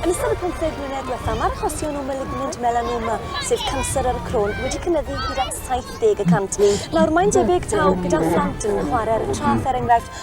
Yn ystod y pymtheg mlynedd diwethaf, mae'r achosion o malignant melanoma, sef canser ar y croen, wedi cynyddu hyd at 70 y cant. Nawr, mae'n debyg taw gyda phlant yn chwarae'r traeth, er enghraifft,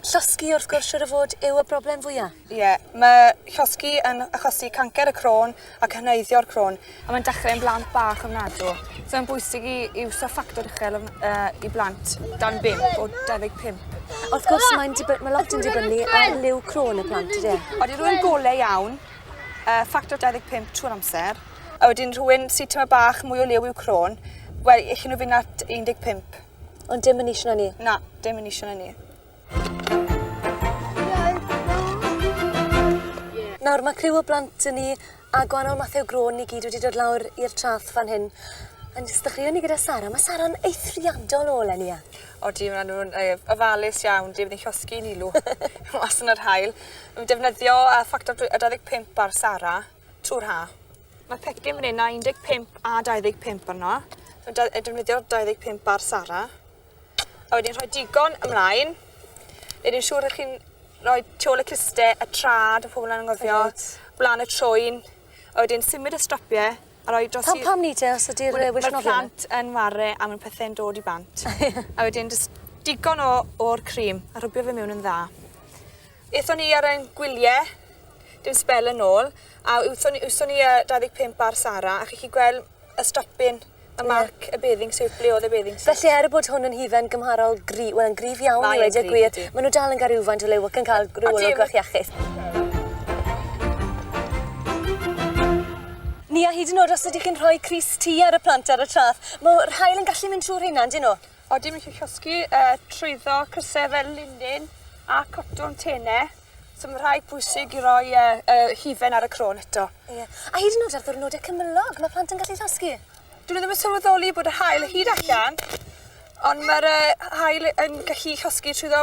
Llosgi wrth gwrs siŵr o fod yw y broblem fwya'. Ie, ma' llosgi yn achosi cancer y cro'n ac hyneiddio'r cro'n. A mae'n dechre yn blant bach ofnadw. So mae'n bwysig i i wthio ffactor uchel ofn- yy i blant dan bump o 25. Wrth gwrs mae'n diby- ma' lot yn dibynnu ar liw cro'n y plant ydi e? Odi rywun gole iawn yy ffactor 25 trwy'r amser a wedyn rhywun sy tyma' bach mwy o liw i'w cro'n wel elli nw fyn' at 15. Ond dim yn eisiau na ni. Na, dim yn eisiau na ni. Nawr, mae criw o blant yn ni a gwahanol mathau o grôn ni gyd wedi dod lawr i'r trath fan hyn. Yn sdechreuon ni gyda Sara. Mae Sara'n eithriadol o leni, ia? O di, maen nhw'n ofalus iawn, di, maen nhw'n llosgi yn ilw mas yn yr hael. Mae'n defnyddio uh, ffactor 25 ar Sara. Tŵr ha. Mae pecyn fan hyn a 15 a 25 arno. Dwi'n defnyddio'r 25 bar Sara. A wedyn rhoi digon ymlaen. Nid yn siŵr ych chi'n rhoi tu ôl y cluste, y trad, y pobl yn anghofio, blaen y trwyn. A wedyn symud y strapiau a rhoi dros... Pam, pam ni te os ydy'r wisnofio? Mae'r e? plant yn ware a mae'n pethau'n dod i bant. a wedyn just digon o'r cream a rhwbio fe mewn yn dda. Aethon ni ar ein gwylie dim sbel yn ôl a wthon ni wthon ni a 25 ar Sara a chi 'llu gwel y stopin y Ie. marc y bathing suit ble odd y bathing suit. Felly er bod hwn yn hufen gymharol gry- wel yn gryf iawn Mae i yn weud y gryf gwir ydi. ma' nw dal yn ga rywfaint o liw ac yn ca'l rw olwg bach iachus. Ni a hyd yn o'd os ydych chi'n rhoi crys T ar y plant ar y trath m'o rhain yn gallu mynd trw rheina yndyn nw? O dim isio llosgi yy trwyddo crysau fel linin a cotwm tene. So ma' rhai pwysig i roi yy y hufen ar y cro'n eto. Ie. A hyd yn o'd ar ddwrnode cymylog ma' plant yn gallu llosgi. Dwn i ddim yn sylweddoli bod yr haul o hyd allan ond ma'r yy haul yn gallu llosgi trwyddo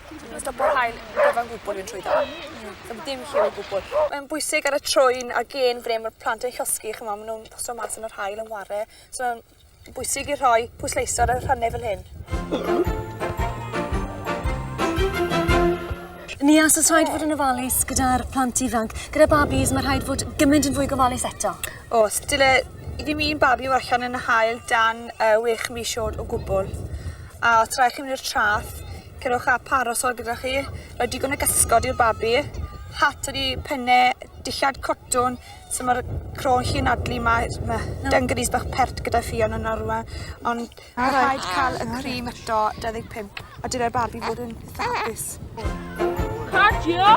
Stopo'r haul yn gyfan gwbl yw'n trwyddo. Ddim dim lliw o gwbl. Mae'n bwysig ar y trwyn a gen bre mae'r plant yn llosgi, chymod, maen nhw'n paso mas yn yr hael yn ware. So mae'n bwysig i rhoi pwysleisio ar y rhannau fel hyn. Ni as y rhaid fod yn ofalus gyda'r plant ifanc. Gyda babis, mae rhaid fod gymaint yn fwy gofalus eto. O, dyle i ddim un babi fod allan yn y hael dan uh, wech mis oed o gwbl. A os rhaid chi mynd i'r traff, Cerwch â parasol gyda chi, rhoi digon o gysgod i'r babi, hat ydi penne dillad cotwn so ma'r cro'n chi anadlu ma' ma' dungarees bach pert gyda ffion yna rwla ond ma' rhaid ca'l y cream eto dau ddeg pump a dyle'r babi fod yn itha hapus. Cardio!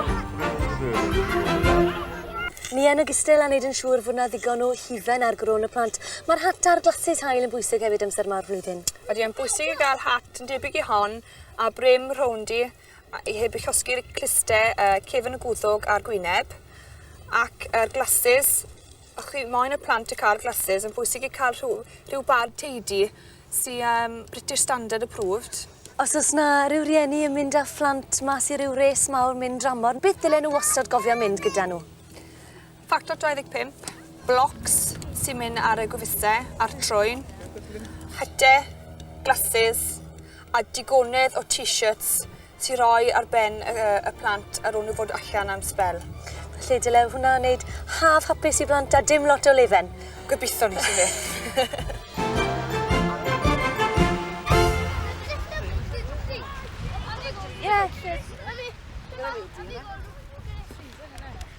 Ni yn ogystal â wneud yn siŵr fod 'na ddigon o hufen ar gro yn y plant, ma'r hat a'r glasses haul yn bwysig hefyd amser 'ma o'r flwyddyn. Ydy e'n bwysig i gael hat yn debyg i hon a brim rowndi a- i heb i llosgi'r cluste yy cefn y gwddwg a'r gwyneb ac yr glasses o' chi moyn y plant y ca'l glasses yn bwysig i ca'l rhyw rhyw bad teidy sy yym British Standard approved. Os o's 'na ryw rieni yn mynd â phlant mas i ryw res mawr mynd dramor beth dylen nw wastod gofio mynd gyda nhw? Ffactor 25, blocs sy'n mynd ar y gwefusau a'r trwyn, hyte, glasses a digonedd o t-shirts sy'n rhoi ar ben y, y plant ar ôl nhw fod allan am spel. Felly dyle hwnna wneud haf hapus i blant a dim lot o lefen. Gobeithio ni sy'n beth.